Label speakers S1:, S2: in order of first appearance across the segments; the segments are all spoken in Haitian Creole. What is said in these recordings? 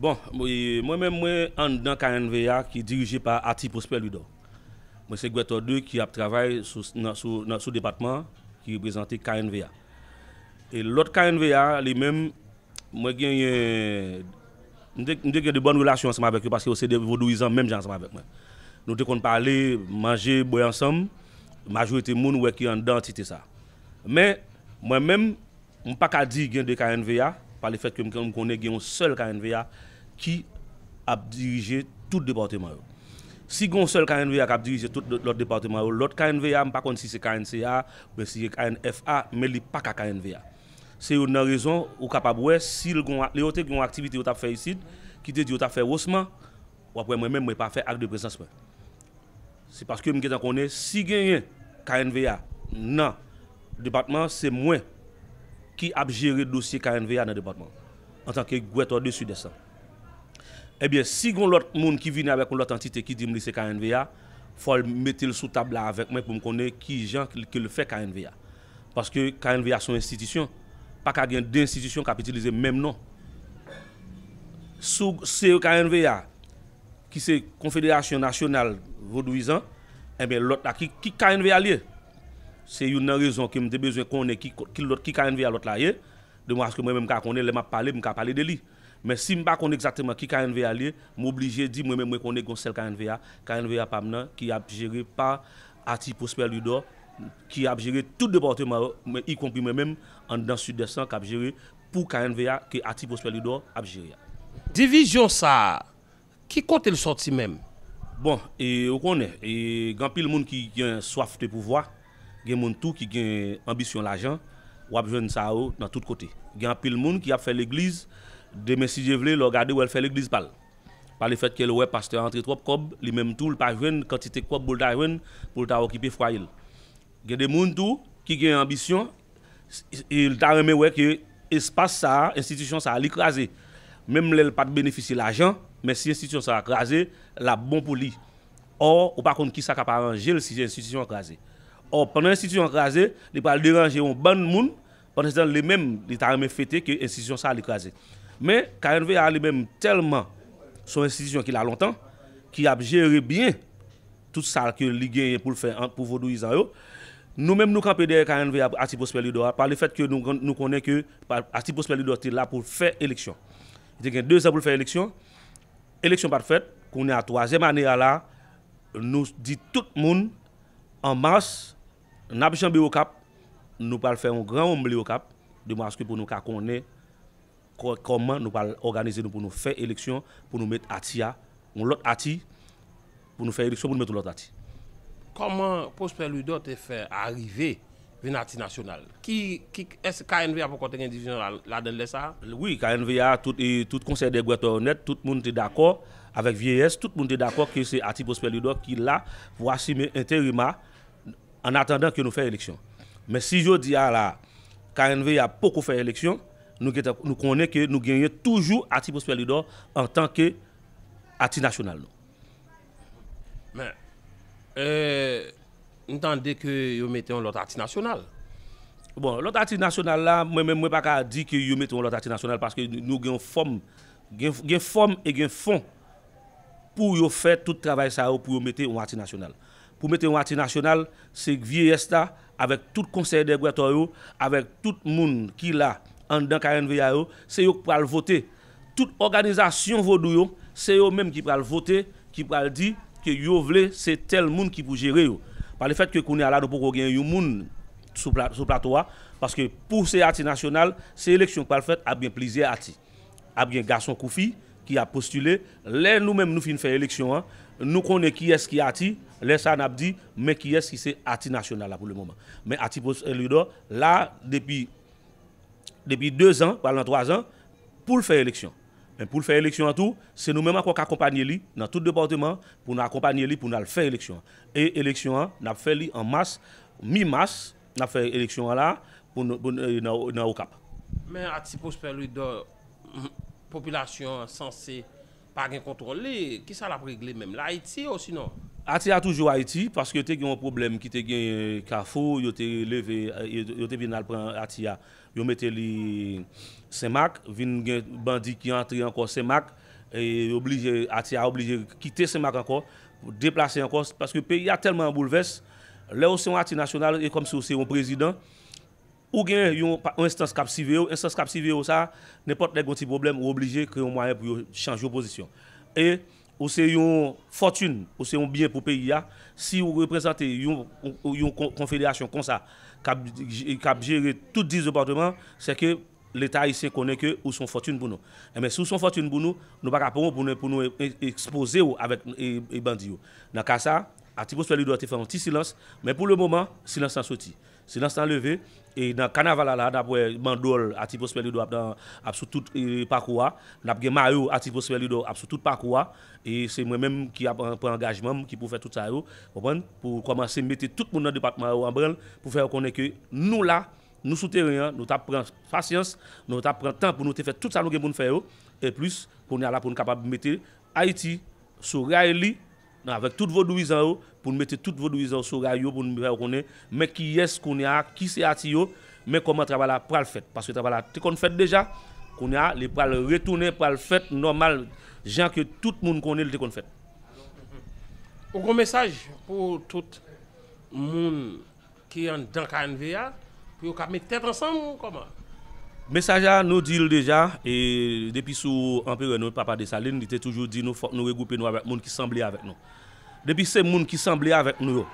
S1: Bon, mwen menm mwen anndan KNVA ki dirije pa Aty Prosper Louidor. Mwen se gwètò 2 ki ap travay sou depatman an ki reprezante KNVA. E lòt KNVA a li menm mwen genyen, m te gen de bòn relasyon ansanm avèk yo paske yo se de vodouyizan menm jan ansanm avèk mwen. Nou te konn pale, manje, bwè ansanm, majorite moun ou wè ki anndan antite sa. Men, mwen menm. M pa ka di gen 2 knva, pa le fèt ke m konnen gen yon sèl knva ki ap dirije tout depatman yo. Si gen yon sèl knva k ap dirije tout lòt depatman yo, lòt knva, m pa konn si se knca oubyen si se knfa, men li pa ka knva. Se youn nan rezon ou kapab wè si l gon, lè yo te gen yon aktivite yo t ap fè isit, ki te di yo t ap fè Rosman, w ap wè mwen menm mwen pa fè Acte de Présence mwen. Se paske m gentan konnen si genyen knva nan depatman an se mwen ki ap jere dosye knva nan depatman an antanke gwètò de Sidès lan. Ebyen si gon lòt moun ki vini avèk yon lòt antite ki di m li se knva fò l mete l sou tab la avèk mwen pou m konnen kijan ke l fè knva. Paske knva se yon enstitisyon pa ka gen 2 enstitisyon k ap itilize menm non. Si w se knva ki se konfederasyon nasyonal vodouyizan enben lòt la ki ki knva l ye? Se youn nan rezon ke m te bezwen konnen ki ki lòt ki knva lòt la ye demwa aske mwen menm m ka konnen lè m ap pale m ka pale de li men si m pa konn egzakteman ki knva l ye m oblije di mwen menm mwen konnen gen yon sèl knva knva pa m nan ki ap jere pa Ati Pwospè Lidò ki ap jere tout depatman yo men ikonpri mwen menm anndan sidès lan k ap jere pou knva a ke Ati Prosper Louidor ap jere a. Divizyon
S2: sa a, ki kote l sòti menm? Bon, e
S1: ou konnen, e gen anpil moun ki gen swaf de pouvwa, gen moun tou ki gen anbisyon lajan, w ap jwenn sa yo nan tout kote. Gen anpil moun ki ap fè legliz, demen si Dye vle, lè w gade wè l fè legliz pa l. Pa le fèt ke l wè pastè a antre twòp kòb, li menm tou l pa jwenn kantite kòb pou l ta jwenn pou l ta okipe fwaye l. Gen de moun tou ki gen anbisyon li ta renmen wè ke espas sa a, enstitisyon sa a li kraze. Menm lè li pa t benefisye lajan, men si enstitisyon sa a kraze, l ap bon pou li. Ò, ou pa konn kisa k ap aranje l si enstitisyon an kraze. Ò, pandan enstitisyon an kraze, li pral deranje yon bann moun, pandanstan li menm, li ta renmen fete ke enstitisyon sa a li kraze. Men, knva a li menm tèlman se yon enstitisyon ki la lontan, ki ap jere byen. tout sa ke li genyen pou l fè pou vodouyizan yo. Nou menm nou kanpe dèyè knv a Ati Pwospè Lidò a pa le fèt ke nou konnen ke Ati Pwospè Lidò te la pou l fè eleksyon. Li te gen dezan pou l fè eleksyon, eleksyon pa t fèt, kounye a twazyèm ane a la nou di tout moun an mas n ap janbe Okap, nou pral fè yon gran womble Okap de mwaske pou nou ka konnen. Kòman nou pral òganize nou pou nou fè eleksyon pou nou met Ati a, yon lòt Ati, pou nou fè eleksyon pou nou met yon lòt Ati? Kòman
S2: Prosper Louidor te fè arive vin Ati nasyonal? Ki, ki, èske KNVA poko te gen divizyon ladann lè sa a? Wi, KNVA,
S1: tout, tout Konsèy dè Gwètò onèt, tout moun te dakò, avèk vyeyès, tout moun te dakò ke se Ati Prosper Louidor ki la pou asime enterima annatandan ke nou fè eleksyon. Men si jodi a la a, KNVA poko fè eleksyon, Nou gentan nou konnen ke nou genyen toujou Ati Prospère Louidor antan ke Ati Nasyonal nou.
S2: Men, eh, m tande ke yo mete yon lòt Ati Nasyonal. Bon,
S1: lòt Ati Nasyonal la, mwen menm mwen pa ka di ke yo mete yon lòt Ati Nasyonal paske nou gen yon fòm, gen, gen fòm e gen fon pou yo fè tout travay sa yo pou yo mete yon Ati Nasyonal. Pou mete yon Ati Nasyonal, se vyeyès la avèk tout konsèy dègwètò yo, avèk tout moun ki la anndan knva yo, se yo k pral vote. Tout òganizasyon vodou yo, se yo menm ki pral vote, ki pral di ke yo vle se tèl moun ki pou jere yo. Pa le fèt ke kounye a la nou poko gen yon moun sou plato a, paske pou se ati nasyonal, se eleksyon k pral fèt, ap gen plizyè ati. ap gen gason kou fi ki ap postile, lè nou menm nou fin fè eleksyon an, nou konnen kiyès ki Ati, lè sa nap di men kiyès ki se Ati nasyonal la pou le moman. Men Ati Prosper Louidor la depi depi 2 zan pral nan 3 zan poul fè eleksyon. Men poul fè eleksyon an tou, se nou menm ankò k akonpanye li nan tout depatman pou nou akonpanye li pou nou al fè eleksyon an. E eleksyon an nap fè li an mas, mi mas, Nap fè eleksyon an la pou nan okap. Men a ti Prosper
S2: Louidor popilasyon an sanse pa gen kontwòl li, kisa lap regle menm? L'Ayiti osinon? A ti a toujou Ayiti
S1: paske te gen yon pwoblèm ki te genyen kafou yo te leve yo te vin al pran a ti a yo mete li senmak vin gen bandi ki antre ankò senmak yo blije a ti a oblije kite senmak ankò deplase ankò paske peyi a tèlman an boulvès Lè ou se yon ati nasyonal, e kòm si ou se yon prezidan, ou gen yon enstans k ap siveye ou, enstans k ap siveye ou sa a, nenpòt lè gen yon ti pwoblèm, ou oblije kreye yon mwayen pou yo chanje w pozisyon. E ou se yon fòtin, ou se yon byen pou peyi a, si ou reprezante yon konfederasyon konsa k ap jere tout 10 departeman, sè ke Leta Ayisyen konnen ke ou son fòtune pou nou. Enben, si ou son fòtune pou nou, nou pa ka pran ou pou nou pou nou ekspoze ou avèk bandi yo. Nan ka sa, Atik Oswèl Lidò te fè yon ti silans, men pou le moman, silans lan soti. Silans lan leve, e nan kanaval la la a n ap wè bandòl Atik Oswèl Lidò ap nan, ap sou tout pakou a. N ap gen mayo Atik Oswèl Lidò ap sou tout pakou a. E se mwen menm ki ap pran angajman m ki pou fè tout sa yo, konprann, pou kòmanse mete tout moun nan depatman yo anbranl pou fè yo konnen ke nou la Nou sou teren an, nou tap pran pasyans, nou tap pran tan pou nou te fè tout sa nou gen pou nou fè yo e plis kounye a la pou nou kapab mete Ayiti sou ray li avèk tout vodouyizan yo, pou nou mete tout vodouyizan yo sou ray yo pou nou fè yo konnen men kiyès kounye a ki se Ayiti yo, men kòman travay la pral fèt paske travay la te konn fèt deja kounye a li pral retounen pral fèt nòmal jan ke tout moun konnen li te konn fèt.
S2: Ou gon mesaj pou tout moun ki anndan knv a pou yo ka met tèt ansanm ou kòman? Mesaj la
S1: nou dil deja e depi sou anperè nou papa Desalin li te toujou di nou fòk nou regwoupe nou avèk moun ki sanble avèk nou. Depi se moun ki sanble avèk nou yo,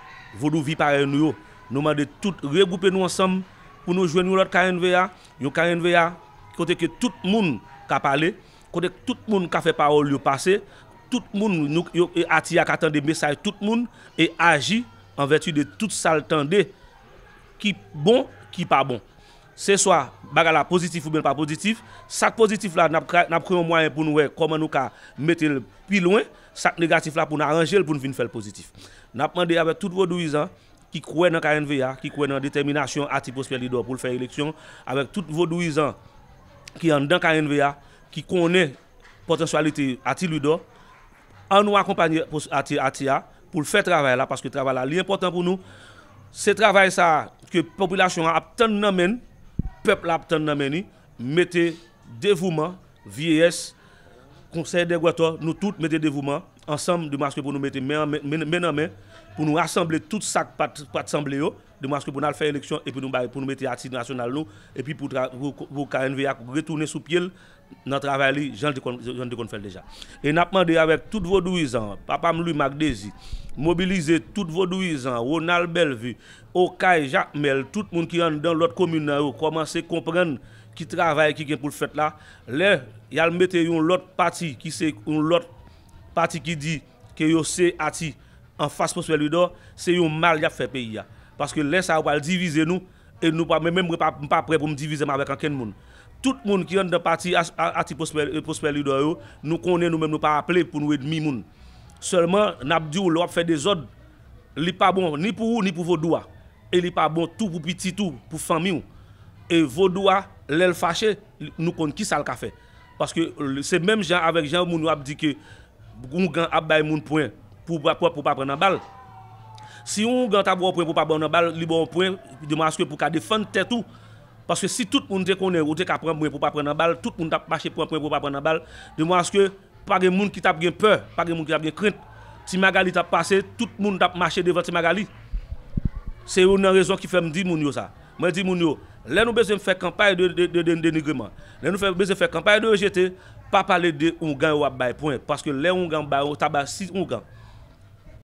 S1: vodouvi parèy nou yo, nou mande tout regwoupe nou ansanm pou nou jwenn yon lòt knva, yon knva kote ke tout moun ka pale, Kote tout moun ka fè pawòl yo pase, tout moun nou yo e ati a ka tande mesaj tout moun e aji an vèti de tout sa l tande ki bon, ki pa bon. Se swa bagay la pozitif oubyen l pa pozitif, sa k pozitif la n ap ka n ap kreye yon mwayen pou n wè kòman nou ka mete l pi lwen, sa k negatif la pou n aranje l pou n vin fè l pozitif. N ap mande avèk tout vodouyizan ki kwè nan knva, ki kwè nan detèminasyon Ati Pwosper Lidò pou l fè eleksyon, avèk tout vodouyizan. ki anndan knv a ki konnen potansyalite Ati Louidor an nou akonpanye Ati a poul fè travay la paske travay la li enpotan pou nou se travay sa ke popilasyon an ap tann nan menn pèp la ap tann nan men ni mete devouman vyeyès konsèy dè gwòtò nou tout mete devouman ansanm de maske pou nou mete men nan men pou nou rasanble tout sak pat sanble yo. Demaske pou n al fè eleksyon epi nou bay pou nou mete Ati Nasyonal nou epi pou pou knva a retounen sou pye l nan travay li jan l te konn fè l deja. E n ap mande avèk tout vodouyizan an, papa m Lwi Mak Dezi, mobilize tout vodouyizan an, Ronald Bèlvi, Okay, Jakmèl, tout moun ki anndan lòt komin nan yo kòmanse konprann ki travay ki gen pou l fèt la. Lè y al mete yon lòt pati ki se yon lòt pati ki di ke yo se Ati. Anfas Prosper Louidor se yon mal yap fè peyi a paske lè sa yo pral divize nou e nou pa menm m pa prè pou m divizem avèk ankenn moun tout moun ki anndan pati ati Prosper Louidor yo nou konnen nou menm nou pa aple pou nou edmi moun sèlman nap diw lè wap fè dezòd li pa bon ni pou ou ni pou vodou a e li pa bon tou pou pitit ou pou fanmiw e vodou a lèl fache nou konn kisal ka fè. Paske se menm jan avèk jan moun yo ap di ke oungan ap bay moun pwen pou ou pa pran nan bal. Si yon oungan ta ba w pwen pou w pa ba w nan bal, li ba w pwen de mwa aske pou w ka defann tèt ou. Paske si tout moun te konnen ou te ka pran pwen pou w pa pran nan bal, tout moun t ap mache pran pwen pou yo pa pran nan bal. De mwa aske pa gen moun ki t ap gen pè, pa gen moun ki t ap gen krent. Ti Magali t ap pase, tout moun t ap mache devan Ti Magali. Se youn nan rezon ki fè m di moun yo sa. Mwen di moun yo, lè nou bezwen fè kanpay de denigreman, lè nou bezwen fè kanpay de rejete, pa pale de oungan yo ap bay pwen, paske lè oungan bay ou ta bay 6 oungan.